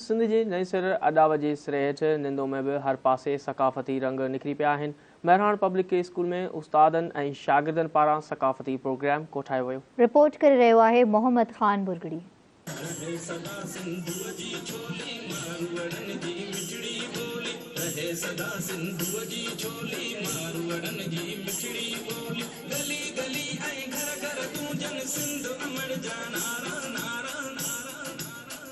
سنڌ جي نئين سر اڏاوت جي سري هيٺ نندو ۾ به هر پاسي ثقافتي رنگ نکري پيا آهن. مهراڻ پبلڪ ڪي اسڪول ۾ استادن ۽ شاگردن پاران ثقافتي پروگرام ڪوٺايو ويو. رپورٽ ڪري رهيو آهي محمد خان برگڙي. رهي سدا سنڌوء جي ڇولي ماروئڙن جي مٺڙي ٻولي رهي سدا سنڌوء جي ڇولي ماروئڙن جي مٺڙي ٻولي گلي گلي ۽ گهر گهر گونجن سنڌ امڙ جا نعرا نعرا نعرا نعرا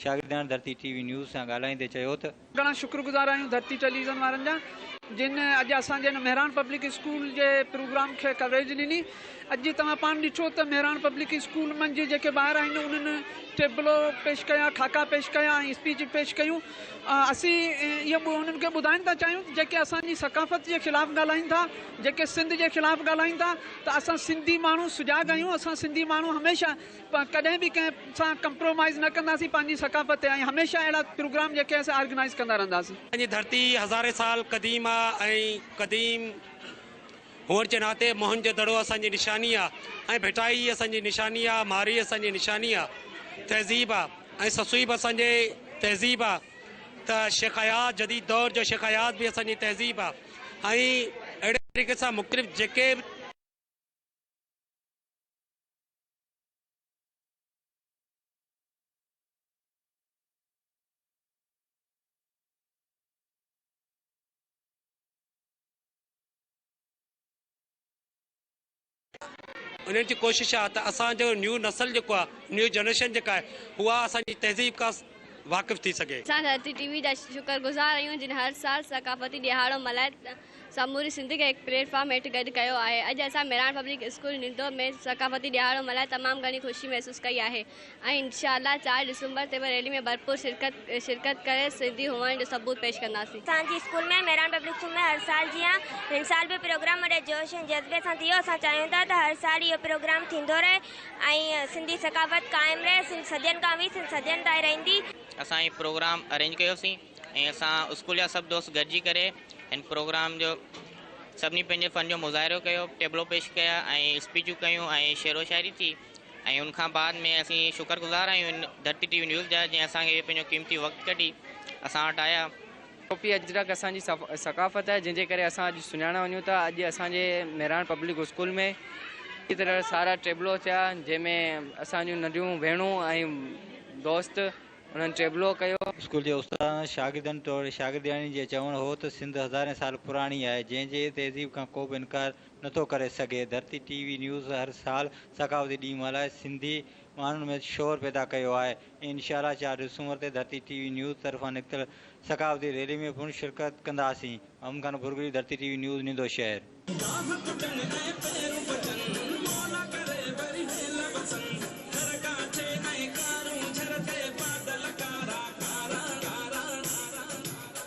شاگردياڻي ڌرتي ٽي وي نيوز سان ڳالهائيندي چيو ته. گهڻا شڪرگذار آهيون ڌرتي ٽيليويزن وارن جا جن اڄ اسان جي هن مهراڻ پبلڪ اسڪول جي پروگرام کي ڪوريج ڏني اڄ جي توهان پاڻ ڏٺو ته مهراڻ پبلڪ اسڪول منجهه جيڪي ٻار آهن انهن ٽيبلو پيش ڪيا خاڪا پيش ڪيا ۽ اسپيچ پيش ڪيون اسين اهو انهن کي ٻڌائڻ ٿا چاهيون ته جيڪي اسان جي ثقافت جي خلاف ڳالهائين ٿا جيڪي سنڌ جي خلاف ڳالهائين ٿا ته اسان سنڌي ماڻهو سجاڳ آهيون اسان سنڌي ماڻهو هميشه ڪڏهن به ڪنهن سان ڪمپرومائيز نه ڪنداسين پنهنجي ثقافت تي ۽ هميشه اهڙا پروگرام جيڪي آهن سي آرگنائيز ڪندا رهنداسين. اسان جي ڌرتي هزارين سال قديم آ ۽ قديم هئڻ جي ناتي موهن جو دڙو اسان جي نشاني آ ۽ ڀٽائي اسان جي نشاني آ مارئي اسان جي نشاني آ تهذيب آ ۽ سسئي به اسان جي تهذيب آ ته شيخ اياز جديد دور جو شيخ اياز به اسان جي تهذيب آ. ۽ اهڙي طريقي سان مختلف جيڪي به. انهن جي ڪوشش آهي ته اسان جو نيو نسل جيڪو آهي نيو جنريشن جيڪا آهي اها اسان جي تهذيب کا واقف ٿي سگهي. اسان ڌرتي ٽي وي جا شڪر گذار آهيون جن هر سال ثقافتي ڏهاڙو ملهائي سموري سنڌ کي هڪ پليٽ فارم هيٺ گڏ ڪيو آهي. اڄ اسان مهراڻ پبلڪ اسڪول نندو ۾ ثقافتي ڏهاڙو ملهائي تمام گهڻي خوشي محسوس ڪئي آهي. ۽ انشاء الله چار ڊسمبر تي به ريلي ۾ ڀرپور شرڪت ڪري سنڌي هئڻ جو ثبوت پيش ڪنداسين. اسان جي اسڪول ۾ مهراڻ پبلڪ اسڪول ۾ هر سال جيان هن سال به پروگرام وڏي جوش ۽ جذبي سان ٿيو اسان چاهيون ٿا ته هر سال اهو پروگرام ٿيندو رهي ۽ سنڌي ثقافت قائم رهي سنڌ صدين کان هئي سنڌ صدين تائين رهندي. اسان هي پروگرام ارينج ڪيو سين ۽ اسان اسڪول جا سڀ دوست گڏجي ڪري هن پروگرام جو سڀني پنهنجي فن جو مظاهرو ڪيو ٽيبلو پيش ڪيا ۽ اسپيچون ڪيون ۽ شعرو شاعري ٿي. ۽ ان کان بعد ۾ اسين شڪر گذار آهيون ڌرتي ٽي وي نيوز جا جنهن اسان کي پنهنجو قيمتي وقت ڪڍي اسان وٽ آيا. ٽوپي اجرڪ اسان جي ثقافت آهي جنهن جي ڪري اسان اڄ سڃاڻيا وڃون ٿا اڄ اسان جي مهراڻ پبلڪ اسڪول ۾ اهڙي طرح سارا ٽيبلو ٿيا جنهن ۾ اسان جون ننڍيون ڀيڻون ۽ دوست انهن ٽيبلو ڪيو. اسڪول جي استادن ۽ شاگردن توڙي شاگردياڻين جي چوڻ هو ته سنڌ هزارين سال پراڻي آهي جنهن جي تهذيب کان ڪو به انڪار نٿو ڪري سگهي. ڌرتي ٽي وي نيوز هر سال ثقافتي ڏينهن ملهائي سنڌي ماڻهن ۾ شعور پيدا ڪيو آهي ۽ انشاءالله چار ڊسمبر تي ڌرتي ٽي وي نيوز طرفان نڪتل ثقافتي ريلي ۾ پڻ شرڪت ڪنداسين محمد خان پورگلي Dharti T V news Nindo شهر. گاهه ڪٽن ۽ پيرون پٽن مولا ڪري وري هيل وسن گهر ڪاٺي ۽ ڪارون جهر تي بادل ڪارا ڪارا.